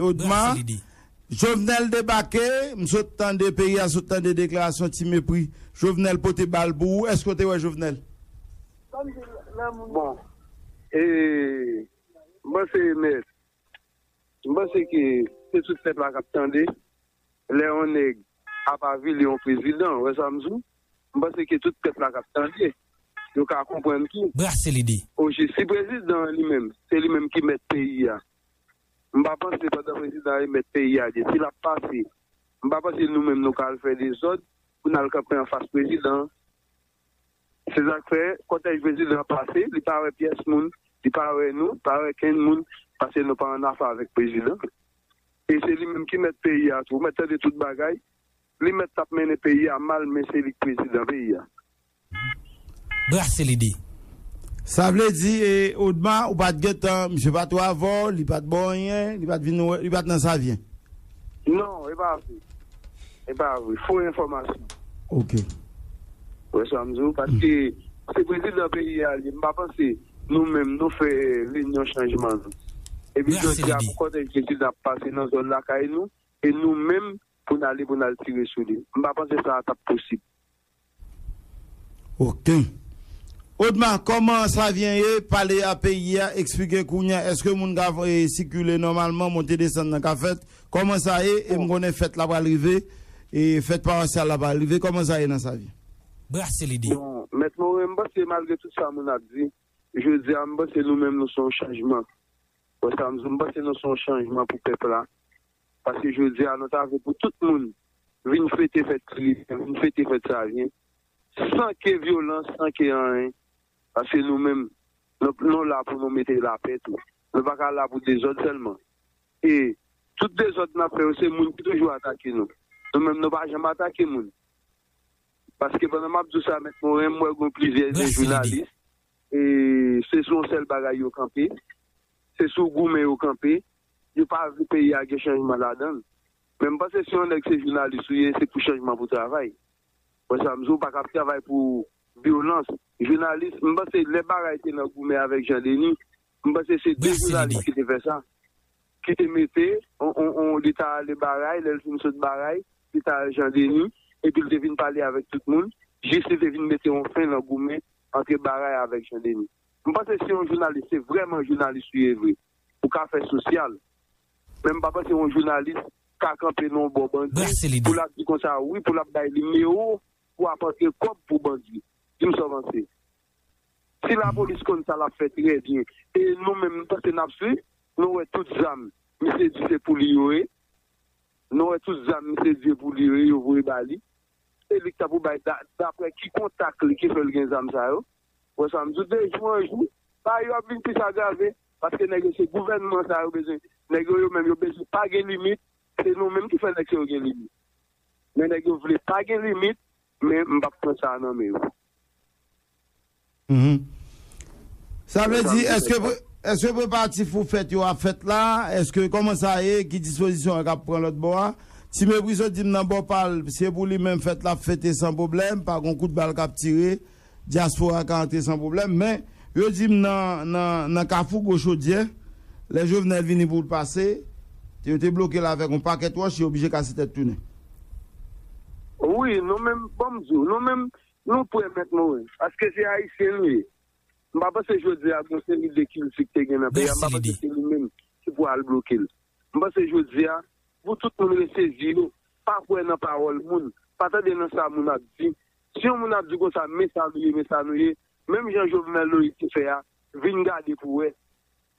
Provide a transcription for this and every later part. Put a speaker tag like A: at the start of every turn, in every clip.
A: Odma, Jovenel debake, m sot tande, peyi a sot tande deklarasyon ti mepri Jovenel pote bal pou ou, èske w te wè Jovenel?
B: Bon, e, m panse Mèt, m panse ke se tout pèp la k ap tande lè yon nèg ap avili yon prezidan, ou wè sa m di w? M panse ke tout pèp la kap tande yo ka konprann tou. Brase lide. Oje
C: si prezidan
B: an li menm se li menm ki mèt peyi a m pa panse pandan prezidan an e mèt peyi a gen si lap pase m pa panse nou menm nou ka al fè dezòd pou n al kanpe anfas prezidan an se sak fè kòtèj prezidan an pase li pa wè pyès moun li pa wè nou pa wè kenn moun paske nou pa annafè avèk prezidan e se li menm ki mèt peyi a tou ou mèt tande tout bagay. Li mèt tap mennen peyi a mal men se li k prezidan peyi a. Brase lide.
C: Sa vle
A: di e Odma ou pat gentan misye pat wè avè w li pat ba w anyen li pat vin wè li pat nan savyen. Non
B: e pa vre e pa vre fo enfòmasyon. Ok.
A: Ou
B: wè sa m di w paske se prezidan peyi a li ye m pa panse nou menm nou fè renyon chanjman nou epi jodi a pou kòtèj prezidan ap pase nan zòn lakay nou e nou menm pou n ale pou n al tire sou li. M pa panse sa a t ap posib.
A: Ok. Odma, kòman Savyen ye, pale a peyi a, eksplike kounye a èske moun ka sikile nòmalman, monte desann nan ka fèt? Kòman sa ye? E m konnen fèt la pral rive, e fèt pawasyal la pral rive. Kòman sa ye nan Savyen? Brase lide.
C: Bon, Mèt
B: Moren, m panse malgre tout sa moun ap di, jodi a m panse nou menm nou se yon chanjman. Ou wè sa m di w? M panse nou se yon chanjman pou pèp la. Paske jodi a nou ta vle pou tout moun vin fete fèt Ti Lipè, vin fete fèt Savyen san ke vyolans, san ke anyen. Paske nou menm nou la pou nou mete lapè tou. Nou pa ka la pou dezòd sèlman. E tout dezòd n ap fè yo se moun ki toujou atake nou. Nou menm nou pa janm atake moun. Paske pandan m ap di w sa Mèt Moren, m wè gen plizyè de jounalis e se sou yon sèl bagay yo kanpe. Se sou goumen yo kanpe. Yo pa vle peyi a gen chanjman ladan l. Men m panse si yon nèg se jounalis ou ye se pou chanjman pou travay. Wè sa m di w, ou pa kab travay pou vyolans. Jounalis, m panse lè Baray te nan goumen avèk Jan Deni, m panse se 2 jounalis ki te fè sa, ki te mete yon, li ta ale Baray, lè l fin sot Baray, li ta al Jan Deni, epi l te vin pale avèk tout moun, jis li te vin mete yon fen nan goumen antre Baray avèk Jan Deni. M panse si yon jounalis se vrèman jounalis ou ye vre, ou ka fè sosyal men m pa panse yon jounalis ka kanpe nan yon bò bandi pou lap di konsa wi pou lap bay nimewo pou ap antre kòb pou bandi di m sa w panse si lapolis konn sa lap fè trè byen e nou menm m panse nap swiv nou wè tout zam misye di se pou li yo ye nou wè tout zam misye di se pou li yo ye yo voye ba li e li k ta pou bay daprè ki kontak li ki fè l gen zam sa yo. Wè sa m di w de jou an jou bagay yo ap vin plis agrave paske nèg yo se gouvènman sa yo bezwen nèg yo yo menm yo bezwen pa gen limit se nou menm ki fè nèg sa yo gen limit men nèg yo vle pa gen limit men m p ap pran sa a nan men yo.
A: Sa vle di èske preparatif pou fèt yo ap fèt la èske kòman sa ye ki dispozisyon yo k ap pran lòt bò a Ti Meprizo di m nan bò pa l se pou li menm fèt l ap fete san pwoblèm pa gon kout bal k ap tire Dyaspora ka antre san pwoblèm, men yo di m nan nan kafou gwo chodyè, lè Jovenel vini pou l pase, yo te bloke l avèk yon pakèt wòch, yo oblije kase tèt tounen. Wi,
B: nou menm, ban m di w, nou menm, nou prè mèt mouri, paske se Ayisyen nou ye. M pa panse jodi a gon seri de kilti k te gen nan peyi a, m pa panse se li menm ki pou al bloke l. M panse jodi a, pou tout moun resezi yo, pa kwè nan pawòl moun, pa tande nan sa moun ap di, Si yon moun ap di konsa men sa nou ye men sa nou ye menm jan Jovenel Loïs te fè a vin gade pou wè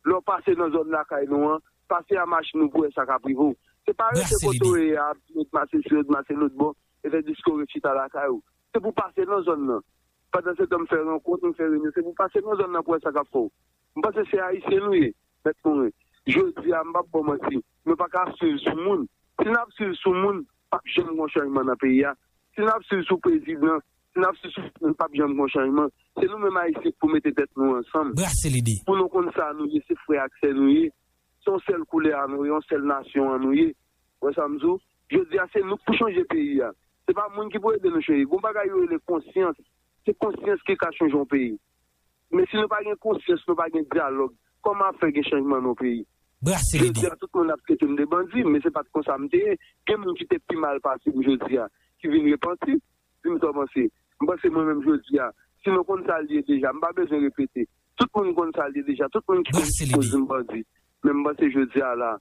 B: lè w pase nan zòn lakay nou an pase a machin ou pou wè sa k ap rive w se pa rete kote w ye a ap di yo t mache si yo t mache lotbò e fè diske w ret chita lakay ou se pou w pase nan zòn nan pandansetan m fè rankont m fè renyon se pou w pase nan zòn nan pou wè sa k ap fè w M panse se Ayisyen nou ye, Mèt Morin. Jodi a, m p ap ba w manti, nou pa ka swiv sou moun. Si n ap swiv sou moun, p ap janm gen yon chanjman nan peyi a. Si n ap swiv sou prezidan, si n ap swiv sou moun, p ap janm gen yon chanjman. Se nou menm Ayisyen k pou mete tèt nou ansanm, pou nou konn sa nou ye, se frè ak sè nou ye, se yon sèl koulè a nou ye, yon sèl nasyon an nou ye. Ou wè sa m di w? Jodi a, se nou k pou chanje peyi a. Se pa moun ki pou ede nou chanje. Gen yon bagay yo rele konsyans. Se konsyans ki ka chanje yon peyi. Men si nou pa gen konsyans nou pa gen dyalòg kòman ap fè gen chanjman non peyi. Brase lide. Jodi a tout moun ap tretem de bandi men se pat konsa m te ye gen moun ki te pi mal pase m jodi a ki vin repanti di m sa w panse m panse mwen menm jodi a si nou konn sa l ye deja m pa bezwen repete tout moun konn sa l ye deja tout moun ki konn ki koz m bandi men m panse jodi a la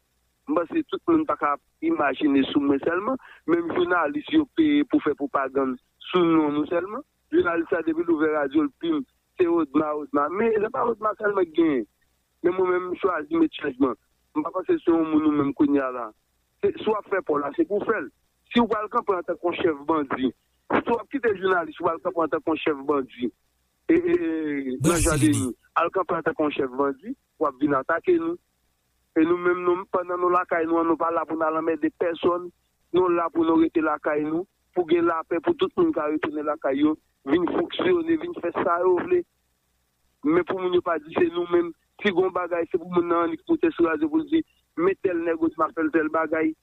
B: m panse tout moun pa ka ap imajine sou mwen sèlman menm jounalis yo peye pou fè pwopagann sou non nou sèlman. Jounalis la depi l ouvè radyo l pim se odma odma men se pa odma sèlman ki genyen men mwen menm m chwazi met chanjman m pa panse se yon moun ou menm kounye a la se si w ap fè paw la se pou w fè l si w pral kanpe antanke yon chèf bandi si w ap kite jounalis ou pral kanpe antanke yon chèf bandi e nan jan de nou al kanpe antanke yon chèf bandi w ap vin atake nou. E nou menm nou pandan nou lakay nou an nou pa la pou nal anmède pèsòn, nou la pou nou rete lakay nou, pou gen lapè pou tout moun ka retounen lakay yo, vin fonksyone, vin fè sa yo vle. Men pou moun yo pa di se nou menm, si gon bagay se pou moun nan annik moute sou radyo poul di men tèl nèg ot map fèl tèl bagay.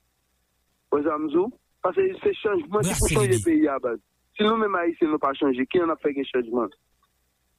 B: Wè sa mdi w? Pase se chanjman ki pou chanje peyi a baz. Si nou menm ayisyen nou pa chanje, kijan nap fè gen chanjman?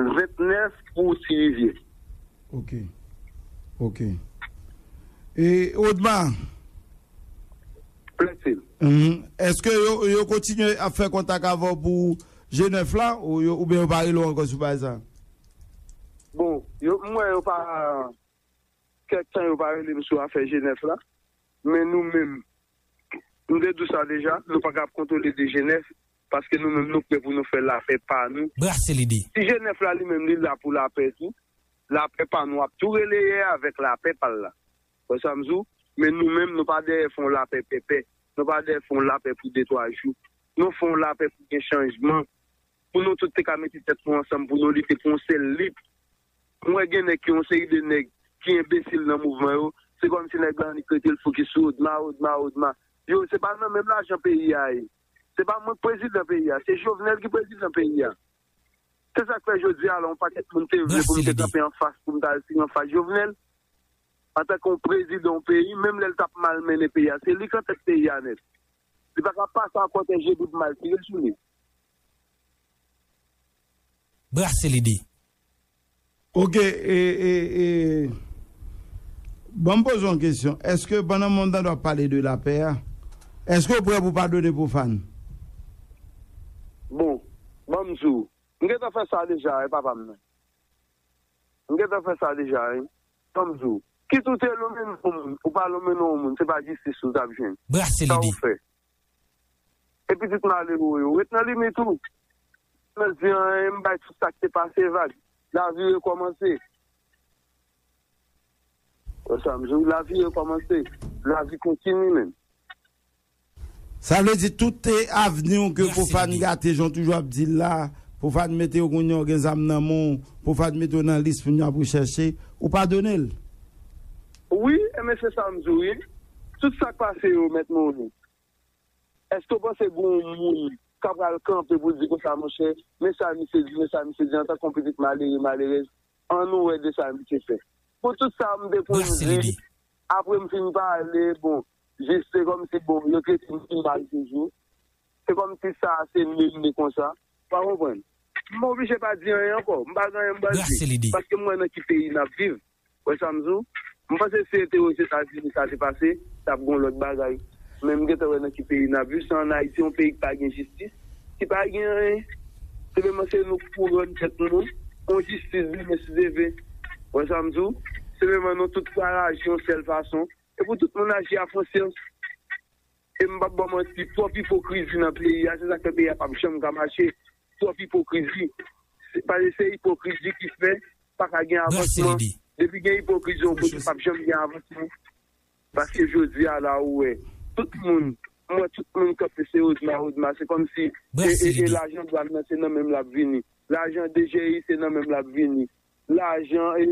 B: 29 pou ti rivye. Ok
A: ok e odma. Plainfield. Uhmm eske yo yo kontinye ap fè kontak avè w pou je 9 la ou yo oubyen yo pa rele w ankò sou bagay sa?
B: Bon yo m wè yo pa kèk tan yo pa rele m sou afè je 9 la men nou menm m te di w sa deja nou paka ap kontwole de je 9 paske nou menm nou prè pou nou fè lapè pa nou. Brase lide. Ti Jenèf la li menm li la pou lapè tou. Lapè pa nou ap tou releye avèk lapè pa l la. Wè sa m di w? Men nou menm nou pa dèyè fè yon lapè pèpè. Nou pa dèyè fè yon lapè pou de twa jou. Nou fè yon lapè pou gen chanjman. Pou nou tout te ka mete tèt nou ansanm pou nou lite pou yon sèl lit. M wè gen nèg ki yon seri de nèg ki enbesil nan mouvman yo. Se kòmsi nèg la annik rete l fokis sou odma, odma, odma. Yo se pa nan menm lajan peyi a ye. Se pa mwen k prezidan peyi a, se Jovenel ki prezidan peyi a. Se sa k fè jodi a la yon pakèt moun te vle pou m te kanpe anfas pou m ta al siy anfas Jovenel antanke yon prezidan yon peyi menm lè l t ap mal mennen peyi a. Se li k antèt peyi a nèt. Li pa ka pase ankò tè je doub mal tire sou li.
C: Braselide.
A: Ok e e e banm poze w yon kesyon eske pandan moun tande w ap pale de lapè a eske w prè pou w padone pwofàn? Bon
B: banm di w m gentan fè sa deja wi papa m nan m gentan fè sa deja wi banm di w kit ou te lonmen non w moun ou pa lonmen non w moun se pa jistis ou tap jwenn sa ou fè. E pitit malero yo? Ret nan limit ou. Nan zi an e m bay tout sa k te pase vag. Lavi rekòmanse. Wè sa m di w? Lavi rekòmanse. Lavi kontini menm.
A: Sa vle di tout avni w ke Profane gate jan w toujou ap di l la, Profane mete w kounya w gen zam nan men w, Profane mete w nan lis moun yo ap rechèche, ou padone l?
B: Wi enben se sa m di w wi tout sa k pase yo mèt mouri èske w panse gen yon moun k ap pral kanpe pou l di konsa monchè men sa misye di men sa misye di antank yon pitit malere malerèz an nou wè de sa misye fè pou tout sa m te konn di apre m fin pale bon jis se kòmsi bon yo trete m pi mal toujou. Se kòm si sa a se menm ni konsa. Pa konprann. M oblije pa di anyen ankò. M pa gen anyen m pral di. Brase lide. Paske m wè nan ki peyi n ap viv. Wè sa m di w? M panse si te Ozetazini sa te pase, t ap gen yon lòt bagay. Men m gentan wè nan ki peyi n ap viv. Se ann Ayiti, yon peyi ki pa gen jistis, ki pa gen anyen. Senpleman se nou pou rann tèt nou yon jistis demen si Dye vle. Wè sa m di w? Senpleman nou tout pral aji yon sèl fason. E pou tout moun aji a konsyans. E m p ap ba w manti, twòp ipokrizi nan peyi a, se sa k fè peyi a p ap janm ka mache. Twòp ipokrizi. Pase se ipokrizi ki fè pa ka gen avansman. Depi gen ipokrizi yon kote, p ap janm gen avansman. Paske jodi a la ou wè, tout moun, m wè tout moun kanpe se Odma, Odma. Se kòmsi e lajan dwàn nan se nan menm l ap vini. Lajan DGI se nan menm l ap vini. Lajan e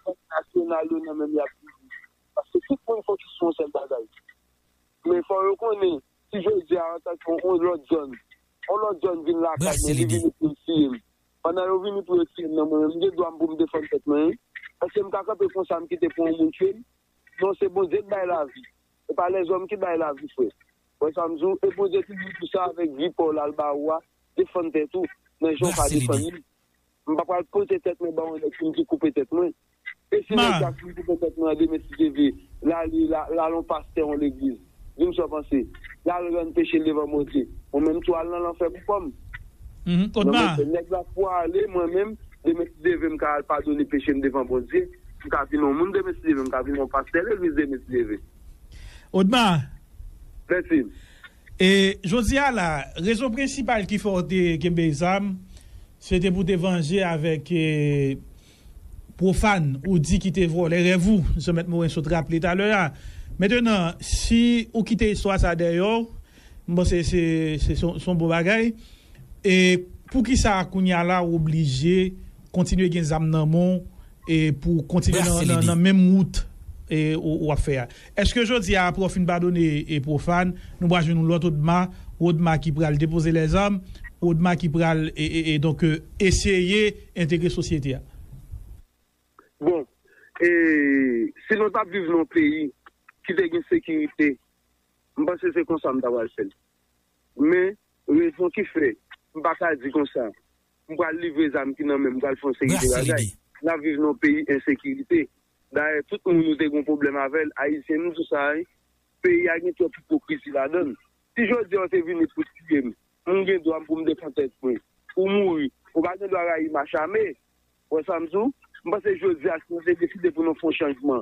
B: bank nasyonal yo nan menm l ap vini. Paske tout moun fokis sou yon sèl bagay. Men fò yo konnen, si jodi a antanke yon lòt zòn, yon lòt zòn vin lakay mwen, li vini pou l tiye m, pandan yo vini pou yo tiye m nan, mwen menm m gen dwa m pou m defann tèt mwen wi. Èske m ka kanpe konsa m kite pou yon moun tiye m? Non, se Bondye k bay lavi. Se pa lèzòm ki bay lavi frè. Ou wè sa m di w? E Bondye ki di w di sa avèk vi pa w la l ba ou a, defann tèt ou nan jan w ka defann li. M pa pral pote tèt mwen ba yon nèg si m ki koupe tèt mwen. E si nèg sa si m koupe tèt mwen an demen si Dye vle, l ale l al yon pastè yon legliz, di m sa w panse, l al rann peche l devan Bondye, mwen menm tou al nan lanfè pou kò m. Non mesye,
D: nèg la pwale
B: mwen menm demen si Dye vle m ka al padone peche m devan Bondye, m ka vin yon moun demen si Dye vle, m ka vin yon pastè legliz demen si Dye vle. Odma! Mèsi. E
D: jodi a la, rezon prensipal ki fè w te kenbe zam, se te pou w te vanje avèk pwofàn ou di ki te vòlè rèv ou, jan Mèt Moren sot raple talè a. Mentenan, si ou kite istwa sa dèyè w, m panse se se yon bon bagay. E pou ki sa kounye a la ou oblije kontinye gen zam nan men w pou w kontinye nan menm wout ou ap fè a? Eske jodi a apre w fin padone Profan nou pral jwenn yon lòt Odma, yon Odma ki pral depoze lèzam, yon Odma ki pral donk eseye entegre sosyete a?
B: Bon, si nou t ap viv nan yon peyi ki te gen sekirite, m panse se konsa m ta pral fè l. Men, rezon ki fè m pa ka di konsa m pral livre zam ki nan men m pral fè yon seri de bagay. N ap viv nan yon peyi ensekirite. Dayè tout moun nou te gon pwoblèm avèl ayisyen nou sou sa wi peyi a gen twòp ipokrizi ladann si jodia ou te vini pou tiyem mwen gen dwam poum defann tèt mwen ou mouri ou pa gen dwa rayi machame wè sam di w m panse jodia si nou te deside pou nou fon chanjman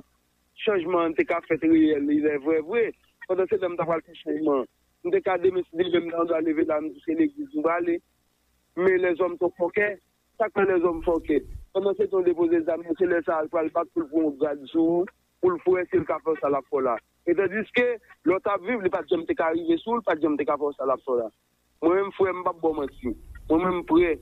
B: chanjman an te ka fèt reyèl reyèl vrè vre pandan se tan m ta pral fon chanjman m te ka demen si demen m ta andwa leve la m di se legliz m prale men lèzòm twò fòkè. Sak fè lèzòm fòkè? Pandan se tan w depoze zam nan se lè sa a l pral bat pou l pran yon grad sou ou, pou l fè wè si l ka fè w sa l ap fè w la. E tandiske, lè w t ap viv li pa t janm te ka rive sou w, li pa t janm te ka fè w sa l ap fè w la. Mwen menm frè m, m p ap ba w manti, mwen menm m prè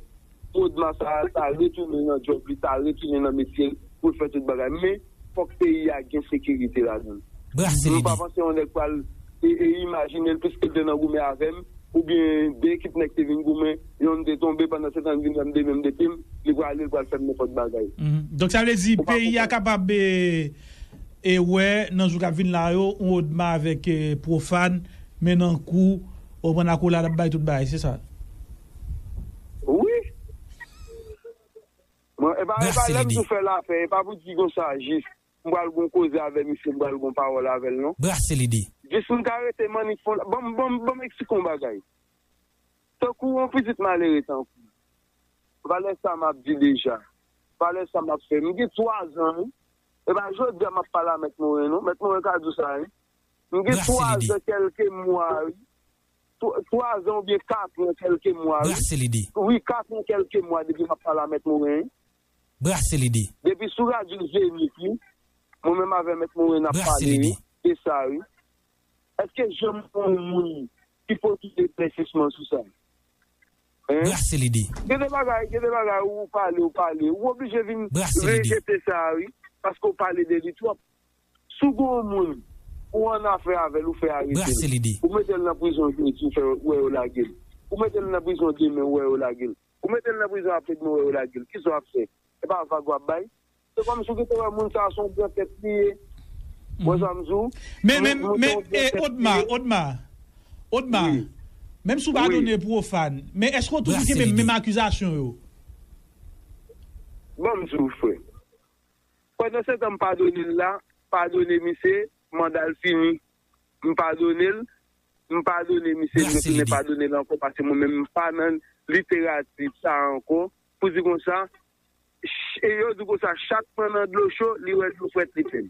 B: pou Odma sa a ta retounen nan djòb li, ta retounen nan metye l pou l fè tout bagay men, Fok peyi a gen sekirite ladanl. Mwen pa panse yon nèg pral imajinel piskel te nan goumen avèm oubyen 2 ekip nèg te vin goumen yonn te tonbe pandan setan li vin wèm de menm de pim li pral ale li pral fèm nenpot bagay. Donk sa vle di
D: peyi a kapab wè nan jou kap vin la yo yon odma avèk profane men nan kou ou konprann akolad ap bay tout bagay se sa.
B: Wi. Mwen epa epa lèm tou fè lapè epa pou ti gon sa jis m pral gon koze avè misye m pral gon pawòl avèl non. Brase lide. Jis
C: m ka rete
B: mannik fon la banm banm banm eksplike yon bagay tankou yon pitit malere tankoum valè sa map di deja valè sa map fè m gen 3 zan wi epa jodia map pale a mèt moren non mèt moren ka di w sa wi m gen 3 zan kèlke mwa wi 3 zan ou byen 4 an kelke mwa wi. Brase lide. Wi 4
C: an kelke
B: mwa depi map pale a mèt Morin. Brase
C: lide. Depi sou radyo
B: Zenith wi mwen menm avè mèt Morin nap pale wi se sa wi. Eske janm gen yon moun ki pote eklèsisman sou sa. Hein.
C: Brase lide. Gen de
B: bagay gen de bagay ou pale ou pale ou oblije vin rejete sa wi paske ou pale de li twòp. Si w gen yon moun ou annafè avè l ou fè arete l, ou mete l
C: nan prizon
B: jodi ou wè yo lage l, ou mete l nan prizon demen ou wè yo lage l, ou mete l nan prizon apredmen ou wè yo lage l, kisa w ap fè? Se pa vag w ap bay? Se kòmsi w te wè moun sa a se yon gran tèt li ye. Ou wè sa m di w? Men,
D: men, men, e, Odma, Odma, Odma, menm si w pa donnen pwofàn, men èske w toujou kenbe menm akizasyon yo?
B: Ban m di w frè, Pandansetan m padone l la, padone misye, manda l fini. M padone l, m padone misye m retounen padone l ankò paske mwen menm m pa nan literati sa ankò pou di konsa e yo di konsa chak pran nan dlo cho li wè dlo frèt li fè l.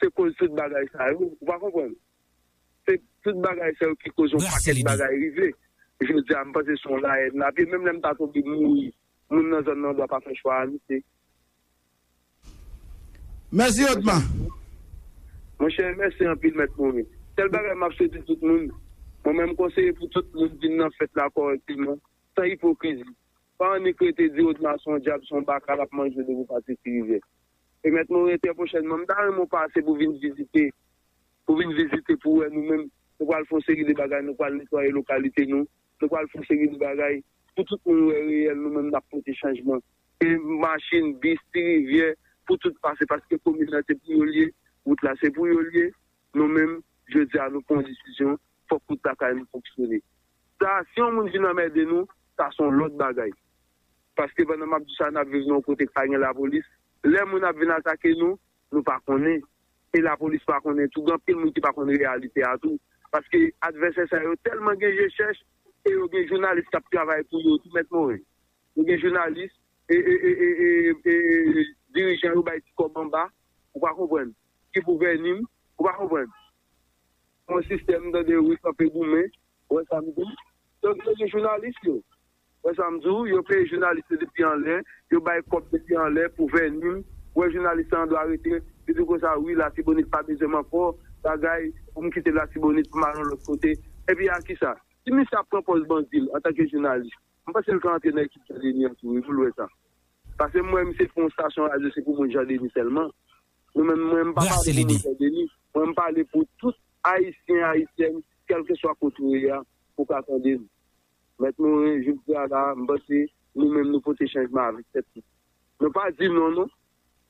B: se koz tout bagay sa yo ou pa konprann se tout bagay sa yo ki koz yon pakèt bagay rive jodi a m panse se yon la haine nap ye menm lè m ta tonbe mouri moun nan zòn nan dwa pa fè chwa a nou se.
A: Mèsi otman.
B: Monchè mèsi anpil mèt morin sèl bagay map swete tout moun mwen menm konseye pou tout moun vin nan fèt la kòrèkteman san ipokrizi pa annik rete di otma son dyab son baka lap manje depi pati tirivye Pèmèt mwen wè trè pwochènman. M ta renmen w pase pou vin vizite, pou vin vizite pou wè nou menm. Nou pral fè yon seri de bagay, nou pral netwaye lokalite nou, nou pral fè yon seri de bagay pou tout moun wè reyèl nou menm n ap pote chanjman. Se machin, bis, ti rivyè pou tout pase paske komin nan se pou yo l ye, wout la se pou yo l ye. Nou menm, jodi a nou pran yon desizyon, fòk wout lakay nou fonksyone. Sa a, si yon moun vin anmède nou, sa a se yon lòt bagay. paske pandan map di sa nap viv nan yon kote ki pa gen lapolis, lè moun ap vin atake nou, nou pa konnen e lapolis pa konnen tou, gen anpil moun ki pa konn reyalite a tou, paske advèsè sa yo tèlman gen je chèch e yo gen jounalis kap travay pou yo tou mèt Morin, yo gen jounalis e dirijan yo bay ti kòb anba ou pa konprann, ki pou vèni m ou pa konprann, yon sistèm tande wi kanpe goumen, wè sam di, donk yo gen jounalis yo. Wè sam di w, yo peye jounalis yo depi anlè, yo bay kòb depi anlè pou vènim, wè jounalis sa andwa rete, li di konsa wi latibonit pa bezwen m ankò, bagay, pou m kite latibonit pou m al yon lòt kote, epi a kisa? Si misye ap pran pòz bandi l antanke jounalis, m panse l ka antre nan ekip Jan Deni an tou wi pou l wè sa. Pase m wè misye fè yon stasyon radyo se pou moun Jan Deni sèlman. Nou menm mwen m pa pale pou moun Jan Deni, mwen m pale pou tout ayisyen ayisyèn kèlkeswa kote ou ye a pou w ka tande m. Mèt Morin, jodi a la a, m panse nou menm nou pote chanjman avèk tèt nou. Nou pa di non non.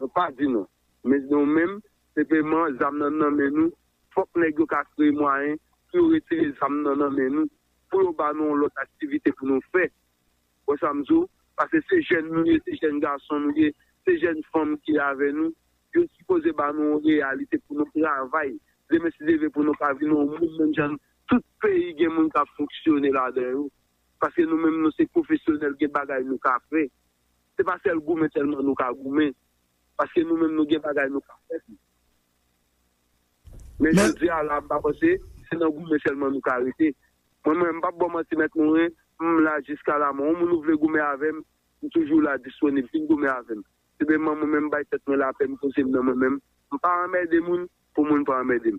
B: Nou pa di non. Men nou menm, senpleman zam nan nan men nou, fòk nèg yo ka kreye mwayen pou yo retire zam nan nan men nou, pou yo ba nou yon lòt aktivite pou nou fè. Ou wè sa m di w? Pase se jèn nou ye, se jèn gason nou ye, se jèn fanm ki avè nou. Yo sipoze ba nou yon reyalite pou nou travay demen si deve pou nou ka vin yon moun menm jan Tout peyi gen moun kap fonksyone ladan yo paske nou menm nou se pwofesyonèl gen bagay nou ka fè se pa sèl goumen sèlman nou ka goumen paske nou menm nou gen bagay nou ka fè tou men jodi a la m pa panse se nan goumen sèlman nou ka rete mwen menm m pap baw manti mèt Morin m la jiska la mò yon moun ou vle goumen avèm m toujou la disponib vin goumen avèm se menman mwen menm m bay tèt mwen lapè m poze m nan mwen menm m pa anmède moun pou moun pa anmède m.